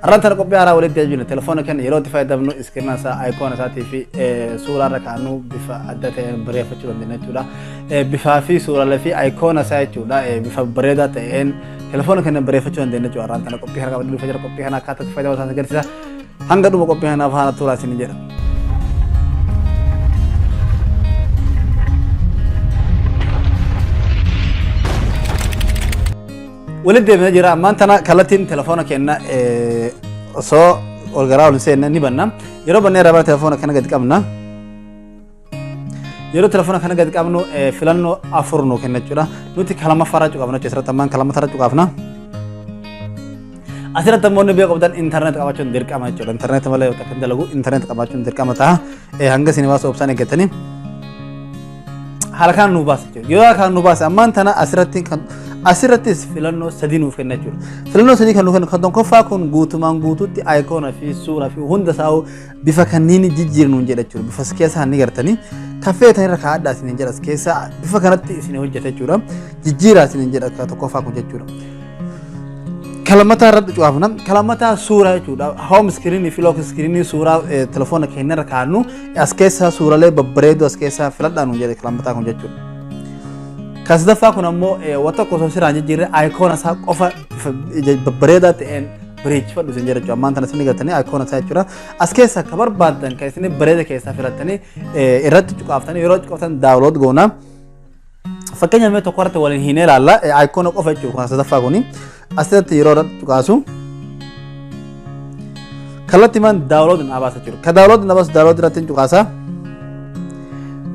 Har'aan tana qophii haaraa walitti deebina. Telefoona keenya yeroo itti fayyadamnu iskirina isaa, ayikoona isaatii fi suuraa irra kaa'annu bifa adda ta'een bareeffachuu dandeenya jechuudha. Bifaa fi suuraalee fi ayikoona isaa jechuudha bifa bareedaa ta'een telefoona keenya bareeffachuu dandeenya jechuudha. Har'aan tana qophii haaraa qabnu dhufa jira. Qophii kana akkaataa itti fayyadamu isaanii agarsiisa. Hanga dhuma qophii kanaaf haala turaa isin jedha. Walitti deebina jira ammaan tana kallattiin telefoona kenna osoo ol garaa ol hin seenne ni banna. Yeroo bannee irraa bara telefoona kana gadi qabna. Yeroo telefoona kana gadi qabnu filannoo afur nuu kenna jechuudha. Nuti kalama faraa cuqaafna jechuudha. Asirratti ammaan kalama faraa cuqaafna. Asirratti ammoo inni beeku qabdan intarneet qabaachuun dirqama jechuudha. Intarneet malee yoo takka dalagu intarneet qabaachuun dirqama ta'a. Hanga isin baasuu obsaan eeggatanii. haala kanaan nu baasa jechuudha. Yoo haala kanaan nu baasa ammaan tana asirratti kan asirrattis filannoo sadii nuuf kenna jechuudha. Filannoo sadii kan nuuf kennu kan tokkoffaa kun guutumaan guutuutti ayikoona fi suuraa fi hunda isaa bifa kanniin jijjiirnu hin jedha jechuudha. Bifa keessaa ni gartanii kan feetan irra kaa'adhaa isin hin jedha keessaa bifa kanatti isin hojjeta jechuudha. Jijjiiraa isin hin jedha kan tokkoffaa kun jechuudha. Kalamataa irratti cufaafna. Kalamataa suuraa jechuudha. Hoom iskiriinii fi look iskiriinii suuraa telefoona keenya irra kaa'annu As keessaa suuralee babbareedduu as keessaa filadhaa nuun jedhe kilaambataa kun jechuudha. Kan sadaffaa kun ammoo waan tokko osoo siraan jijjiirre ayikoona isaa qofa babbareedaa ta'een bareechifadhu isin jedha jechuudha. Ammaan tana isin gartanii ayikoona isaa jechuudha. As keessaa akka barbaaddan kan isin bareeda keessaa filattanii irratti cuqaaftanii yeroo cuqaaftan daawulood goonaa. Fakkeenya mee tokko irratti waliin hin ilaalla. Ayikoona qofa jechuudha kun sadaffaa kuni. Asirratti yeroo irratti tuqaasu. Kallattii man daawulood hin abaasa jiru. Ka daawulood hin abaasu daawulood irratti hin tuqaasa.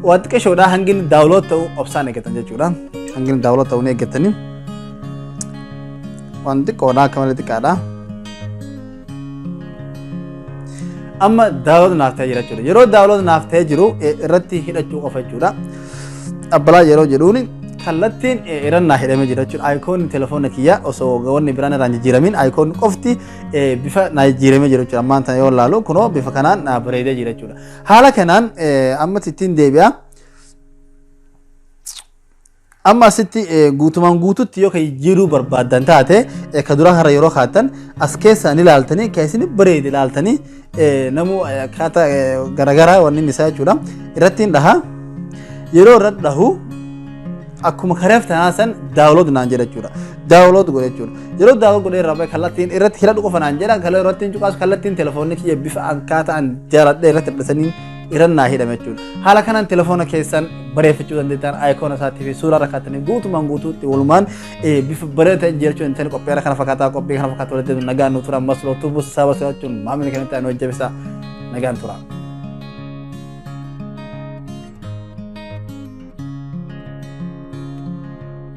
Waa xiqqeeshoodha hangi inni daawulood ta'u obsaan eeggatan jechuudha. Hangi inni daawulood ta'u ni eeggatanii. Waan xiqqoodha akka malee xiqqaadha. amma daawlood naaf ta'ee jira jechuudha yeroo daawlood naaf ta'ee jiru eh, irratti hidhachuu qofa jechuudha abbalaa yeroo jedhuun kallattiin eh, irra naa hidhamee jira jechuudha ayikoonni telefoona kiyya osoo wanni biraan irraa hin jijjiiramin ayikoonni qofti eh, bifa naa jijjiiramee jira jechuudha ammaan tana yoo laalu kunoo bifa kanaan naa bareedee jira jechuudha haala kanaan eh, ammatti ittiin deebi'a. Amma asitti guutumaan guututti yoo kan jijjiiruu barbaaddan taate ka duraa har'a yeroo kaattan as keessaan ilaaltanii kan isin bareede ilaaltanii namuu akkaataa garaagaraa wanni isaa jechuudha irratti hin dhaha yeroo irra dhahu akkuma kareef tanaa san daawulood naan jedha jechuudha. Daawulood godhe jechuudha. Yeroo daawulood godhe irraa kallattiin irratti hidhadhu qofa naan jedha kallattiin cuqaas kallattiin telefoonni kiyya bifa akkaataa an jaaladhe irratti hidhasanii irran naa hidhame jechuudha. Haala kanaan telefoona keessan bareeffachuu dandeettan ayikoona isaatii fi suuraa rakkaatanii guutumaan guutuutti walumaan bifa bareeda ta'e jiraachuu hin ta'in qophii kana fakkaataa qophii kana fakkaataa walitti deebiin nagaan nu tura ammas lootuu buusa saaba so'achuun maamilni kamitti ani hojjabisa nagaan tura.